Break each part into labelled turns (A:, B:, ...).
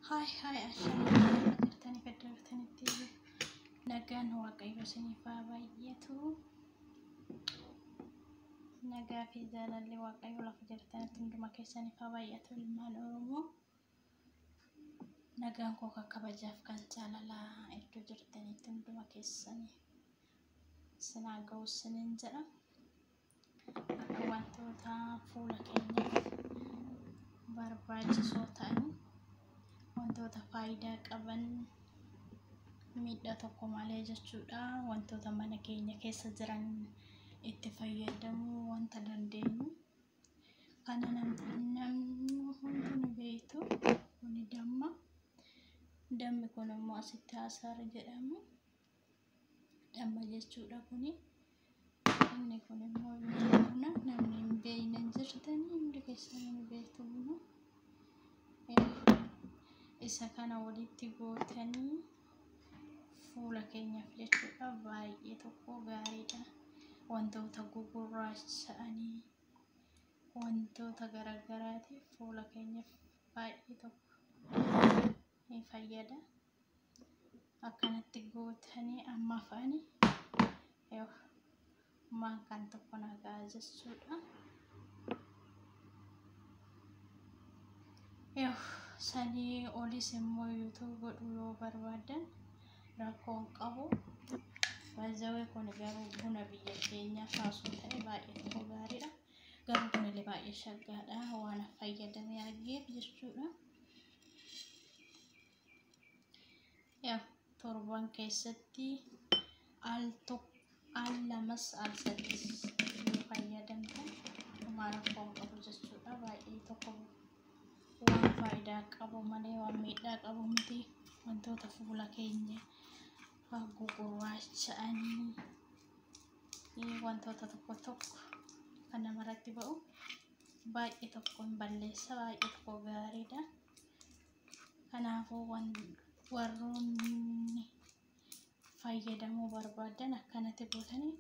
A: Haay haay ashamaa jirtanii gaddabatanitti nagaan waaqayyo isiniif haa baay'atu. Nagaa fi jaalalli waaqayyo lafa jirtanitti hunduma keessaniif haa baay'atu ilmaan Oromoo. Nagaan koo kan kabajaaf kan jaalalaa iddoo jirtanitti hunduma keessanii sinaa ga'u sinin jedha. wantoota fuula keenyaaf barbaachisoo ta'an wantoota faayidaa qaban miidhaa tokko malee jechuudha wantoota mana keenya keessa jiran itti fayyadamuu wanta dandeenyu kana namni hunduu beektu kuni damma dammi kun immoo asitti hasaara jedhamu damma jechuudha kuni inni kun immoo buna namni hin beekne hin jirtan hundi keessan hin beektu buna isa kana walitti gootanii fuula keenyaaf jechuudha baay'ee tokko gaariidha wantoota gugurraacha'anii wantoota garagaraatiif fuula keenyaaf baay'ee tokko ni fayyada. akkanatti gootanii amma afaani yoo maankaan tokko nagaa jechuudha. Yoo sanii olis immoo yuutuub godhu yoo barbaadan rakkoon qabu. Baay'ee kun garuu buna biyya keenyaa kaasuu ta'e baay'ee tokko gaariidha. Garuu kunillee baay'ee shaggaadha waan fayyadamee argeef jechuudha. Yaa torban keessatti al tokko al lamas al sadis yoo fayyadamtan homaa rakkoo hin qabu jechuudha. Baay'ee tokko waan faayidaa qabu malee waan miidhaa qabu miti. Wantoota fuula keenya haguugu gurraacha'anii eh, wantoota tokko tokko kan namarratti ba'u baay'ee tokko hin balleessa baay'ee tokko gaariidha. Kanaafuu warroonni fayyadamuu barbaadan akkanatti gootanii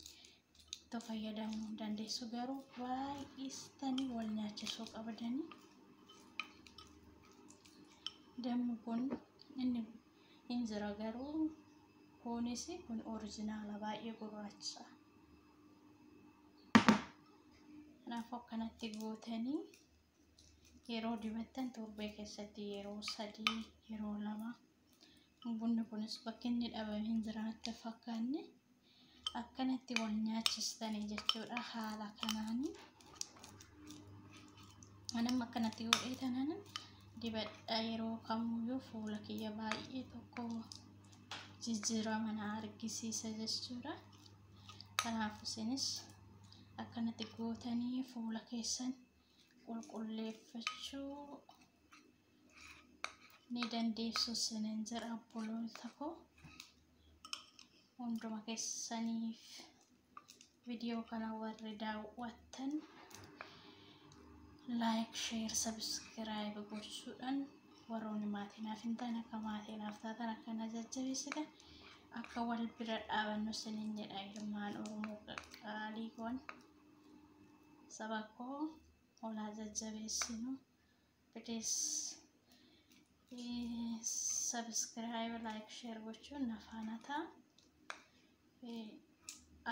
A: itti fayyadamuu dandeessu garuu baay'istanii wal nyaachisuu qabdanii dammi kun inni hin jira garuu kunis kun orijinaala baay'ee gurraacha kanaafuu akkanatti gootanii yeroo dibattan torbee keessatti yeroo sadii yeroo lama bunni kunis bakki inni dhabame hin jiraatte fakkaanne akkanatti wal nyaachistanii jechuudha haala kanaanii anam akkanatti godhee tanan dibadha yeroo kamuyyuu fuula kiyya baay'ee tokko jijjiirama na argisiisa jechuudha kanaaf isinis akkanatti gootanii fuula keessan qulqulleeffachuu ni dandeessu isinin jira obboloota koo hunduma keessaniif viidiyoo kana warri daawwattan laayik sheer sabiskiraayib gochuudhaan warroonni maatii naaf hin taane akka maatii naaf taatan akka na jajjabeessitan akka wal bira dhaabannu isinin jedha ilmaan oromoo qaqqaalii koon. saba koo olaa jajjabeessinu please subscribe like share gochuun na faana ta'a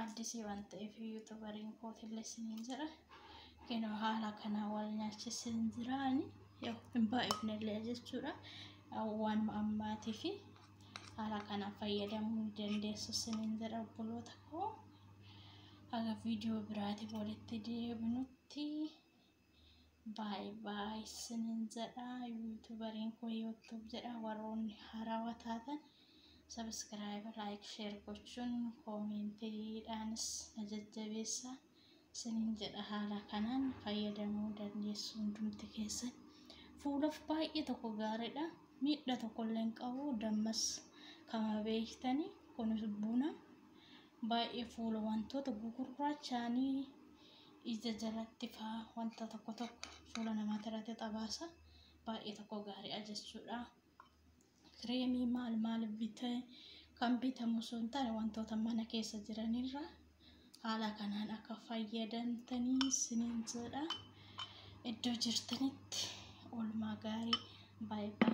A: addisii waan ta'eef yuutubariin kootillee isiniin jedha kinoo haala kana wal nyaachisin jiraani yoo hin baay'ifnellee jechuudha waan ammaatii fi haala kana fayyadamuu ni dandeessu isiniin jedha obboloota koo Haga viidiyoo biraatiif walitti deebinutti baay baay isinin jedha. Yuutubariin koo yuutuub jedha. Warroonni harawa taatan sabiskiraayib, laayik, sheer gochuun koomeentiidhaanis na jajjabeessa. isiniin jedha haala kanaan fayyadamuu dandeessu hundumti keessan fuulaf baay'ee tokko gaariidha miidha tokkollee hin qabu dammas kama beektani kunis buna baay'ee fuula wantoota gugurraachaanii ija jalatti faa wanta tokko tokko fuula namaati irratti xabaasa baay'ee tokko gaariidha jechuudha kireemii maal maal bitee kan bitamu osoo hin taane wantoota mana keessa jiranirra haala kanaan akka fayyadamtanii isiniin jedha iddoo jirtanitti oolmaa gaarii baay'ee